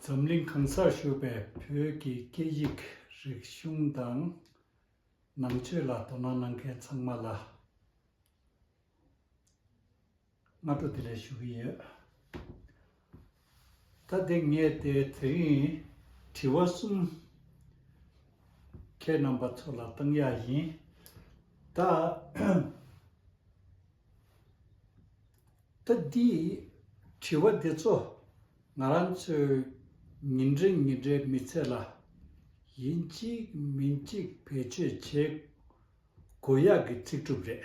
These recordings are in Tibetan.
འཛམ་གླིང་གང་སར་བཞུགས་པའི་བོད་ཀྱི་སྐད་ཡིག་རིག་གཞུང་དང་ནང་ཆོས་ལ་དོ་སྣང་གནང་མཁན་ཚང་མ་ལ་སྔ་དྲོ་དེ་རེད་ཞུ་གི་ཡོད། ད་དེ་ངས་དེ་དེ་རིང་དྲི་བ་གསུམ་ཁྱེད་རྣམ་པ་ཚོ་ལ་བཏང་ཡག་ཡིན། ད་ད་དེ་དྲི་བ་དེ་ཚོ་ང་རང་ཚོའི་ཉིན་རེ་ཉིན་རེ་མི་ཚེ་ལ་ཡིན་གཅིག་མིན་གཅིག་བེད་སྤྱོད་བྱེད་དགོས་ཡག་གི་ཚིག་གྲུབ་རེད།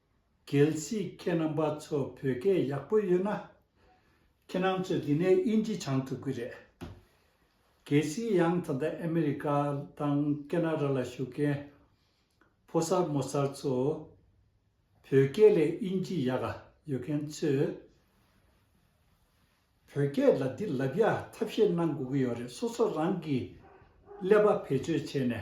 གལ་སྲིད་ཁྱེད་རྣམ་པ་ཚོ་བོད་སྐད་ཡག་པོ་ཡོད་ན། ཁྱེད་རྣམ་ཚོས་འདི་ནས་དབྱིན་ཇི་སྦྱང་ཐུབ་གི་རེད། གལ་སྲིད་ཡང་ད་ལྟ་ཨ་མི་རི་ཀ་དང་ཀེ་ན་ར་ལ་བཞུགས་མཁན་ཕོ་གསར་མོ་གསར་ཚོ། བོད་སྐད་ལས་དབྱིན་ཇི་ཡག་ག་ཡོད་མཁན་ཚོས། བོད་སྐད་ལ་འདི་ལབ་ཡ་ཐབས་ཤེས་གནང་དགོས་ཀི་ཡོད་རེད་སོ་སོ་རང་གིས་ཀླད་པ་བེད་སྤྱོད་བྱས་ནས།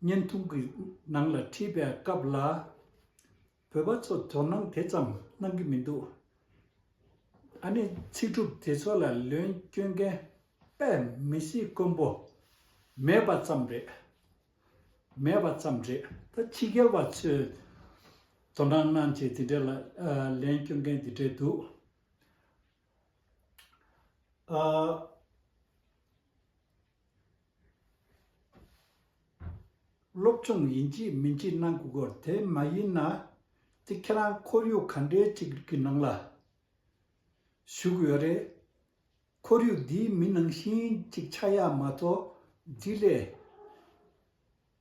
བརྙན་ཐུང་གི་ནང་ལ་བྲིས་པའི་སྐབས་ལ། བོད་པ་ཚོ་དོ་སྣང་དེ་ཙམ་གནང་གི་མི་འདུག་ཨ་ནེ་ཚིག་གྲུབ་དེ་ཚོ་ལ་ལོན་སྐྱོན་མཁན་པད་མི་སྲིད་དཀོན་པོ་མེད་པ་ཙམ་རེད། མེད་པ་ཙམ་རེད་ད་ཕྱི་རྒྱལ་བ་ཚོས་དོ་སྣང་གནང་ཆེད་དེ་འདྲའི་ལ་ལན་སྐྱོན་མཁན་དེ་འདྲའི་འདུག་ཨ། སློབ་ཆུང་ཡིན་གྱི་མིན་གྱི་གནང་དགོས་སྐོར་དེ་མ་ཡིན་ན། དེ་ཁྱེད་རང་ཁོར་ཡུག་ག་འདྲའི་ཅིག་གི་ནང་ལ་ཞུགས་ཡོད་རེད། ཁོར་ཡུག་འདིའི་མི་ནང་བཞིན་ཅིག་ཆགས་ཡ་མ་གཏོགས་འདི་ལས།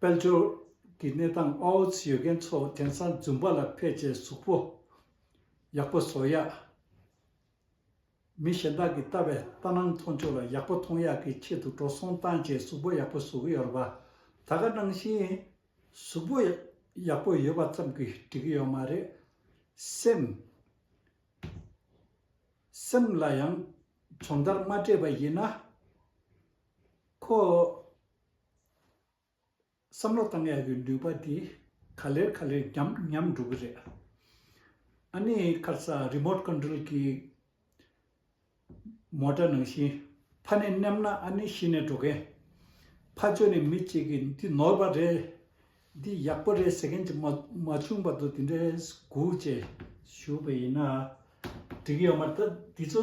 དཔལ་འབྱོར་གྱི་གནས་སྟངས་ཨའོ་ཚི་ཡོད་མཁན་ཚོ་དེང་སང་རྫུན་པ་ལ་ཕེད་ཅེས་གཟུགས་པོ་ཡག་པོ་བཟོ་ཡག། མི་གཞན་དག་གི་ལྟ་བའི་ལྟ་སྣང་མཐོང་ཆོས་ལ་ཡག་པོ་མཐོང་ཡག་གི་ཆེད་དུ་འགྲོ་སོང་བཏང་རྗེས་གཟུགས་པོ་ཡག་པོ་བཟོ་གི་ཡོད་པ་ད་ག་ནང་བཞིན་གཟུགས་པོ་ཡག་པོ་ཡོད་པ་ཙམ་གྱིས་འགྲིག་གི་ཡོད་མ་རེད། སེམས། སེམས་ལ་ཡང་སྦྱོང་བརྡར་མ་སྤྲད་པ་ཡིན་ན། ཁོ། བསམ་བློ་བཏང་ཡག་གི་འདུས་པ་དེ་ག་ལེར་ག་ལེར་འགྱམ་ཉམས་འགྲོ་གི་རེད། ཨ་ནེ་ཁར་ས Remote Control གི་མོ་ཏྲ་ནང་བཞིན་ཕ་ནས་མནན་ན་ཨ་ནེ་ཤི་ནས་འགྲོ་གི། ཕ་བཅོས་ནས་མི་གཅིག་གིས་འདི་ནོར་བ་རེད། འདི་ཡག་པོ་རེད་ཟེར་མཁན་གྱི་མ་མ་བྱུང་བར་དུ་དེ་འདྲའི་སྒུག་ཅེས་ཞུ་བ་ཡིན་ན་འགྲིག་གི་ཡོད་མ་རེད་ད་འདི་ཚོ་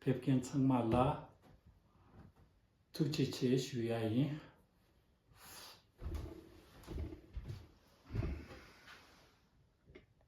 ཕེབས་མཁན་ཚང་མ་ལ་ཐུགས་རྗེ་ཆེ་ཞུ་ཡ་ཡིན།